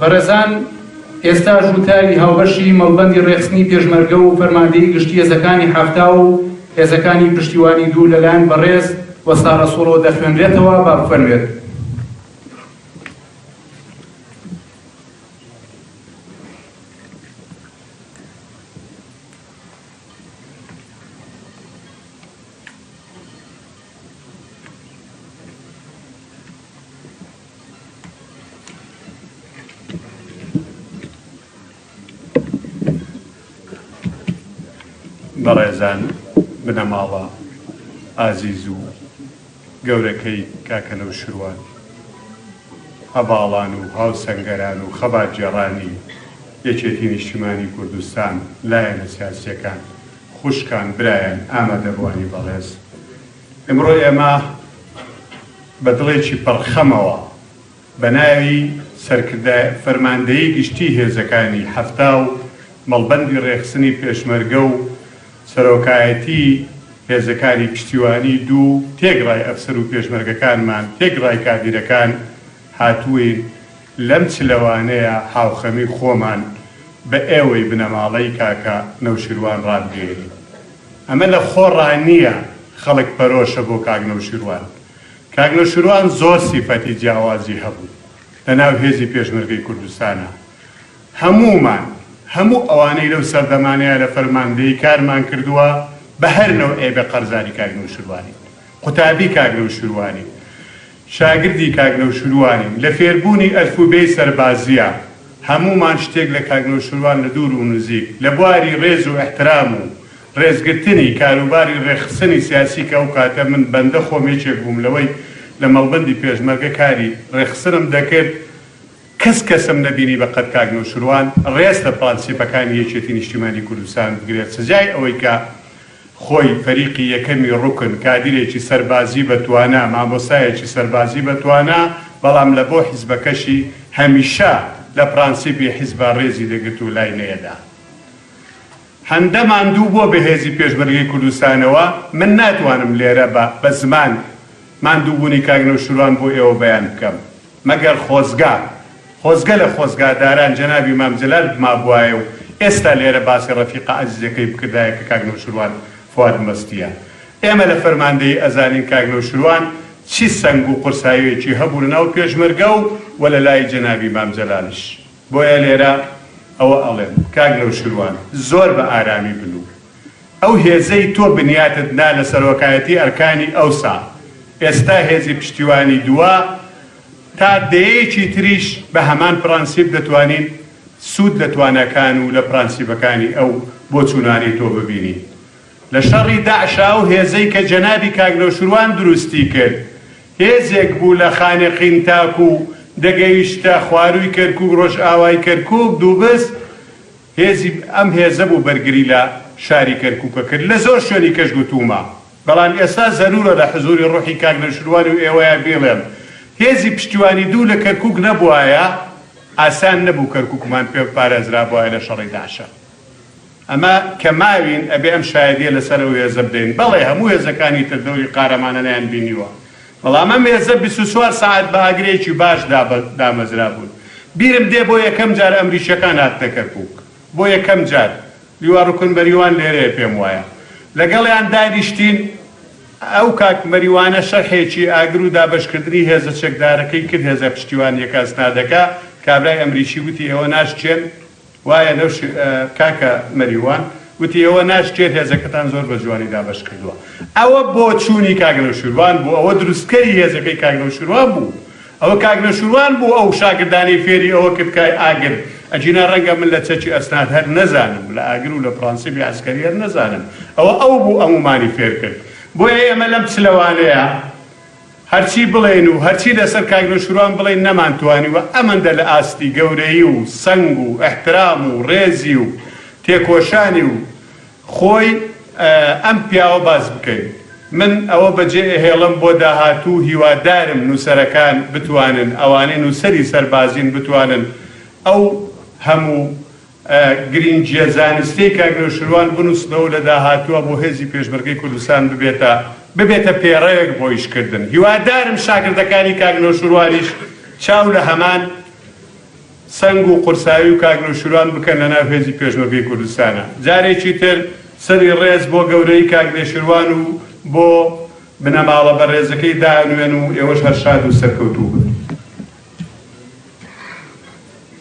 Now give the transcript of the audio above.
بەڕێزان ئێستاش وتاری هاوبەشی مەڵبەندی ڕێکخستنی پێشمەرگە و فەرماندەیی گشتی هێزەکانی حەفتا و هێزەکانی پشتیوانی دوو لەلایەن بەڕێز وەستا ڕەسووڵەوە دەخوێنرێتەوە، با بخوێنرێت. بەڕێزان بنەماڵە ئازیز و گەورەکەی کاکە نەوشروان، هەڤاڵان و هاوسەنگەران و خەباتگێڕانی یەکێتی نیشتیمانی کوردستان، لایەنە سیاسییەکان، خوشکان، برایان، ئامادەبووانی بەڕێز. ئمڕۆ ئێمە بە دڵێکی پڕ خەمەوە بە ناوی سەرکردە فەرماندەیی گشتی هێزەکانی حەفتا و مەڵبەندی ڕێکخسنی پێشمەرگە و سەرۆکایەتی هێزەکانی پشتیوانی دوو تێگڕای ئەفسەر و پێشمەرگەکانمان تێگڕای کادیرەکان هاتووین لەم چلەوانەیە هاوخەمی خۆمان بە ئێوەی بنەماڵەی کاکە نەوشیروان ڕابگەیەنین. ئەمە لە خۆڕا نییە خەڵک پەرۆشە بۆ کاک نەوشیروان. کاک نەوشیروان زۆر سیفەتی جیاوازی هەبوو لە ناو هێزی پێشمەرگەی کوردستانا. هەموومان، هەموو ئەوانەی لەو سەردەمانەیا لە فەرماندەیی کارمان کردووە بە هەر نەوعێ بێ قەرزاری کاک نەوشیروانین. قوتابی کاک نەوشیروانین. شاگردی کاک نەوشروانین لە فێربوونی ئەلفوبێی سەربازییا هەموومان شتێک لە کاک نەوشروان لە دوور ونزیک لە بواری رێز و ئیحترام و رێزگرتنی کاروباری رێکخسنی سیاسی کە ئەو کاتە من بەندە خۆم یەکێک بووم لەوەی لە مەڵبەندی پێشمەرگە کاری رێکخسنم دەکرد کەس کەسم نەبینی بە قەد کاک نەوشروان رێز لە پرانسیپەکانی یەکێتی نیشتیمانی کوردستان بگرێت سزای ئەوەی کە خۆی، فەریقی یەکەمی ڕوکن، کادیرێکی سەربازی بە توانا، مامۆستایەکی سەربازی بە توانا، بەڵام لە بۆ حیزبەکەشی هەمیشە لە پرانسیپی حیزبە ڕێزی دەگرت و لای نەیەدا. هەندە ماندوو بۆ بەهێزی پێشمەرگەی کوردستانەوە، من ناتوانم لێرە بە بە زمان ماندووبوونی کاک نەوشیروان بۆ ئێوە بەیان بکەم، مەگەر خۆزگا خۆزگە لە خۆزگاداران جەنابی مام جەلال بمابوایە و ئێستا لێرە باسی ڕەفیقە ئەزیزەکەی بکردایە کە کاک نەوشروان فواد مەستیە. ئێمە لە فەرماندەیی ئەزانین کاک نەوشروان چی سەنگ و قورساییەکی هەبوو لە ناو پێشمەرگە و وە لە لای جەنابی مام جەلالش. بۆیە لێرە ئەوە ئەڵێم کاک نەوشروان زۆر بە ئارامی بن و. ئەو هێزەی تۆ بنیاتت نا لە سەرۆکایەتی ئەرکانی ئەوسا، ئێستا هێزی پشتیوانی دووە، تا دەیەیەکی تریش بە هەمان پرەنسیپ دەتوانین سوود لە تواناکان و لە پرەنسیپەکانی ئەو بۆچوونانەی تۆ ببینین. لە شەڕی داعشا ئەو هێزەی کە جەنابی کاک نەوشروان دروستی کرد، هێزێک بوو لە خانەقین تاکوو دەگەیشتە خوارووی کەرکووک، ڕۆژئاوای کەرکووک، دووبز، هێزی ئەم هێزە بوو بەرگری لە شاری کەرکووک ئەکرد، لە زۆر شوێنی کەش گوتوومە، بەڵام ئێستا زەروورە لە حزووری ڕووحی کاک نەوشیروان و ئێوەیا بیڵێم، هێزی پشتیوانی دوو لە کەرکووک نەبووایە، ئاسان نەبوو کەرکووکمان پێ بپارێزرابووایە لە شەڕی داعشە. ئەمە کە ماوین ئەبێ ئەم شایەدییە لەسەر ئەو هێزە بدەین. بەڵێ هەموو هێزەکانی تر دەوری قارەمانانەیان بینیوە. بەڵام ئەم هێزە بیست و چوار سەعات بە ئاگرێکی باش دامەزرابوون. بیرم دێ بۆ یەکەم جار ئەمریکییەکان هاتنە کەرکووک. بۆ یەکەم جار. لیوا ڕوکن مەریوان لێرەیە پێم وایە. لەگەڵیان دانیشتین. ئەو کاک مەریوانە شەرحێکی ئاگر و دابەشکردنی هێزە چەکدارەکەی کرد، هێزە پشتیوانییەکە، ئەسنادەکە. کابرای ئەمریکی وتی ئێوە ناشکێن. وایە لەو شێ کاکە مەریوان گوتی ئێوە ناشکێت هێزەکەتان زۆر بە جوانی دابەش کردووە ئەوە بۆچوونی کاک نەوشیروان بوو ئەوە دروستکەری هێزەکەی کاک نەوشیروان بوو ئەوە کاک نەوشیروان بوو ئەو شاگردانەی فێری ئەوە کرد کە ئاگر ئەگینا ڕەنگە من لە چەکی ئەسناد هەر نەزانم لە ئاگر و لە پڕەنسیبی عەسکەری هەر نەزانم ئەوە ئەو بوو ئەموومانی فێر کرد بۆیە ئێمە لەم چلەوانەیە هەرچی بڵێین و هەرچی لەسەر کاک نەوشیروان بڵێین نەمانتوانیوە ئەمەندە لە ئاستی گەورەیی و سەنگ و ئیحترام و ڕێزی و تێکۆشانی و خۆی ئەم پیاوە باس بکەین. من ئەوە بەجێ ئەهێڵم بۆ داهاتوو هیوادارم نوسەرەکان بتوانن ئەوانەی نوسەری سەربازین بتوانن ئەو هەموو. گرینگیە زانستیەی کاک نەوشروان بنوسنەوەو لە داهاتوە بۆ هێزی پێشمەرگەی کوردستان ببێتە ببێتە پێڕەوێک بۆ ئیش کردن هیوادارم شاگردەکانی کاک نەوشروانیش چاو لە هەمان سەنگ و قورسایی و کاک نەوشروان بکەن لە ناو هێزی پێشمەرگەی کوردستانا جارێکی تر سەری ڕێز بۆ گەورەی کاک نەوشروان و بۆ بنەماڵە بەڕێزەکەی دانوێن و ئێوەش هەر شاد و سەرکەوتوو بن.